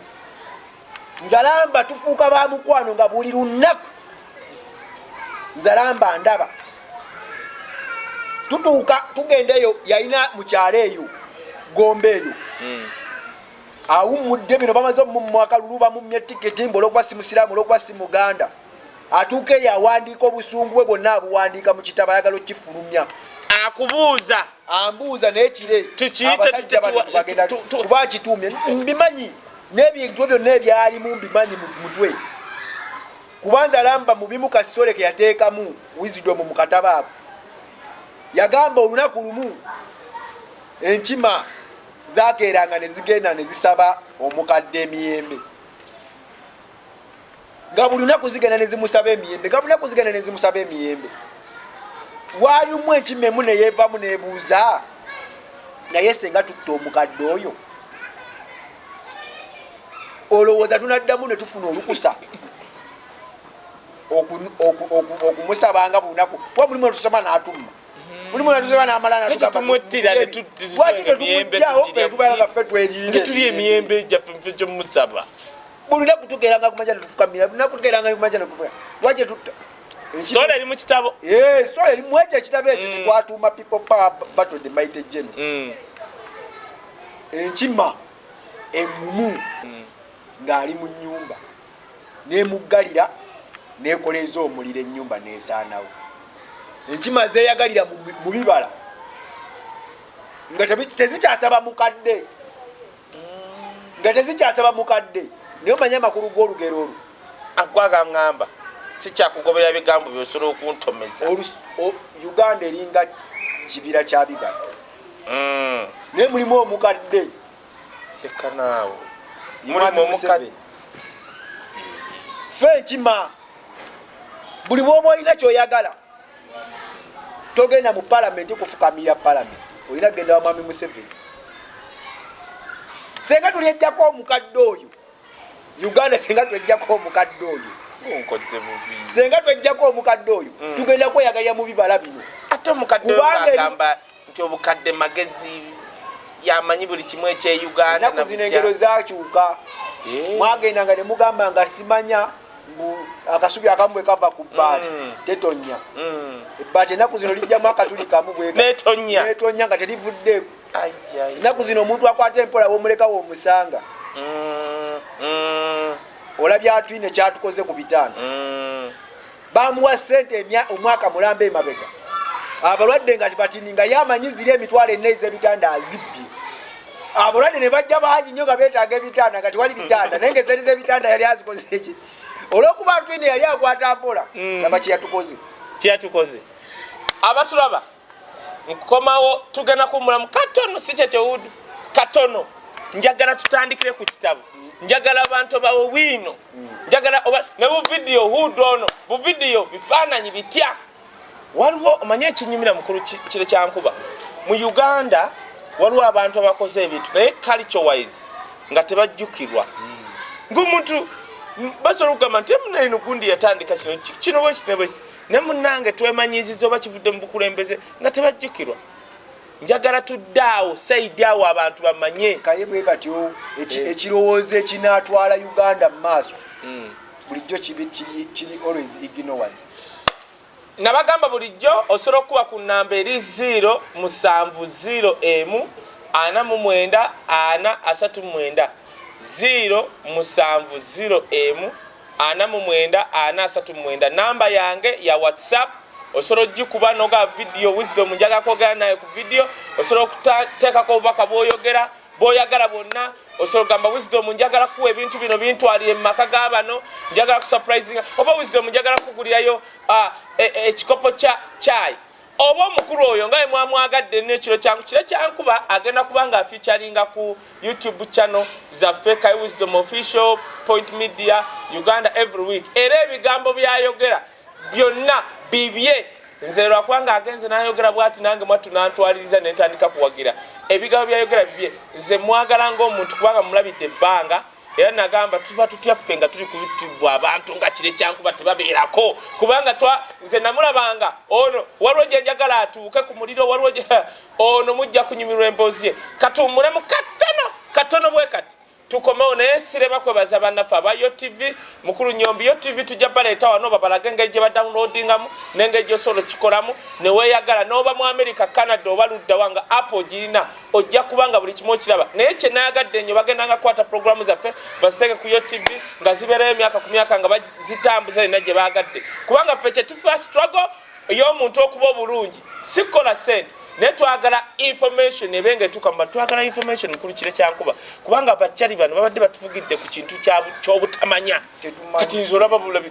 nzalamba tufuuka ba mukwano nga buli lunaku nzalamba ndaba tutuuka tugenda eyo yalina mukyalo eyo gombe eyo hmm. awummudde bino bamaze omumwakalulu bamumye tiketi mbu olwokuba si musiraamu olwokuba si muganda atuuka eyo awandiika obusungu bwe bwonna abuwandiika mu kitabo ayagala okukifulumya akubuuza ambuuza naye kire abasajja bagenda kuba akituumye mbimanyi n'ebintu byonna ebyalimu mbimanyi mu mutwe kubanza lamba mubimu kasitole ke yateekamu wisdom mu katabo ako yagamba olunaku lumu enkima zakeeranga ne zigenda ne zisaba omukadde emiyembe nga buli lunaku zigenda nezimusaba emiyembe nga buli lunaku zigenda nezimusaba emiyembe walimu ekimemu neyevamu nebuuza naye senga tutta omukadde oyo olowooza tunaddamu netufuna olukusa okumusabanga bunaku kuba mulimu netusaba natumma mhm. mulimu netusaba namalanatumuttiralwaki tetumujjawo fetubanga fe tweriire emiyembe gyafe gyomusaba buli lunaku tugeranga kumanja netukukamira lunaku tugeranga kumanja nekuvuya lwaki tutta sitole eri mukitabo eh, sitole eri mwekyo ekitabo ekyo mm. kyetwatuuma people power battle the mighty general mm. enkima eŋumu mm. ng'ali mu nyumba nemuggalira nekoleeza omuliro enyumba nesaanawo enkima zeyagalira mu bibala nga tezikyasaba mukadde nga tezikyasaba mukadde naye omanya amakulu g'olugero olwo agwagaŋamba sikyakugobera bigambo byosobola okuntomeza uganda eringa kibira kyabibadde mm. naye mulimu omukadde tekanaawo mulimu omukadde fe enkima buli bwoba olina kyoyagala togenda mu palamenti kufukamira palamenti olina kugenda wa mwami museveni senga tuli ejjako omukadde oyo uganda senga twejjako omukadde oyo senga twejjako omukadde oyo mm. tugenda kweyagalira mu bibala bino kubanga nti obukadde magezi yamanyi buli kimu ekyeyuganda naku zino engero zakyuka eh. mwagenda nga nemugamba nga simanya mbu akasubi akamu bwe kava ku bbaati mm. tetonya mm. ebbaati enaku zino lijjamu akatuli kamu bwenetonya nga terivuddeku enaku zino omuntu akwata empola womulekawo omusanga mm. olabya atwine kyatukoze ku bitaano bamuwa sente emya omwaka mulamba emabega abalwadde nga tibatini nga yamanyi ziri emitwalo enna ezebitanda azibbye abalwadde ne bajja bangi nyo nga betaaga ebitanda nga tiwali bitanda naye ngezeri zebitanda yali azikoze eki olwokuba ntwine yali akwata mpola mm. naba kyeyatukoze kyeyatukoze abatulaba nkukomawo tugenda kuwumulamu katono si kyekyowudu katono njagala tutandikire ku kitabo njagala abantu bawe wiino njagala ne buvidiyo hudu ono buvidiyo bifaananyi bitya waliwo omanye ekinyumira mukulu kire kyankuba mu uganda waliwo abantu abakoze ebintu naye culture wise nga tebajjukirwa ngaomuntu basobola okugamba nti emunaino gundi yatandika kino kino bwekiti ne bwekiti ne munange twemanyiiziza oba kivudde mu bukulembeze nga tebajjukirwa njagala tudde awo saidi awo abantu bamanye kaye bwe batyo eh. ekirowoozo ekinaatwala uganda mu maaso hmm. bulijjo kiri always ignowan nabagamba bulijjo osobola okukuba ku namba eri 0 musanvu 0 emu ana mu mwenda ana asatu mwenda 0 musanvu 0 emu ana mu mwenda ana asatu mu mwenda namba yange ya whatsapp osobola ogikuba noga vidiyo wisdom njaga kwogera naye ku vidiyo osobola okuteekako obubaka bwoyogera bwoyagala bwonna osobola ogamba wisdom njagala kuwa ebintu bino bintwalire mu maka ga bano njagala kusurprisinga oba wisdom njagala kukugulirayo ah, e, e, ekikopo kya chai oba omukulu oyo nga wemwamwagadde nno ekiro kyangu kiro kyankuba agenda kuba nga afeaturinga ku youtube channel zaffe kai wisdom official point media uganda every week era ebigambo byayogera byonna bibye nze lwakuba nga agenze nayogera bwati nange mwattu nantwaliriza nentandika kuwagira ebigambo byayogera bibye nze mwagala ngaomuntu kubanga mulabidde ebbanga era nagamba tuba tutya ffe nga tuli kubitibwa abantu nga kire kyankuba tebabeerako kubanga twa nze namulabanga ono waliwo gyenjagala atuuke ku muliro waliwo ono mujja kunyumirwa emboozi ye katuwumulemu katono katono bwe kati tukomewo naye sirema kwebaza bannaffe aba yo tv mukulu nyombi yo tv tujja baleeta wano babalage engeri gye badownloadingamu n'engeri gyosobola okikolamu neweyagala n'oba mu america canada oba luddawa nga apple girina ojja kuba nga buli kimu okiraba naye kyenayagadde nnyo bagenda nga kwata pulogulaamu zaffe baziteeke ku yotv nga zibeerayo emyaka ku myaka nga bazitambuza yonna gye baagadde kubanga ffe kyetufa strago ey'omuntu okuba obulungi sikukola sente naye twagala information ebe nga etuuka muba twagala information mukulu kire kyankuba kubanga abakyali bano babadde batuvugidde ku kintu kyobutamanya kati nze olaba bulabi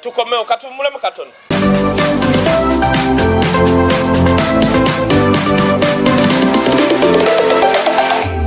tukomewo katuwumulemu katono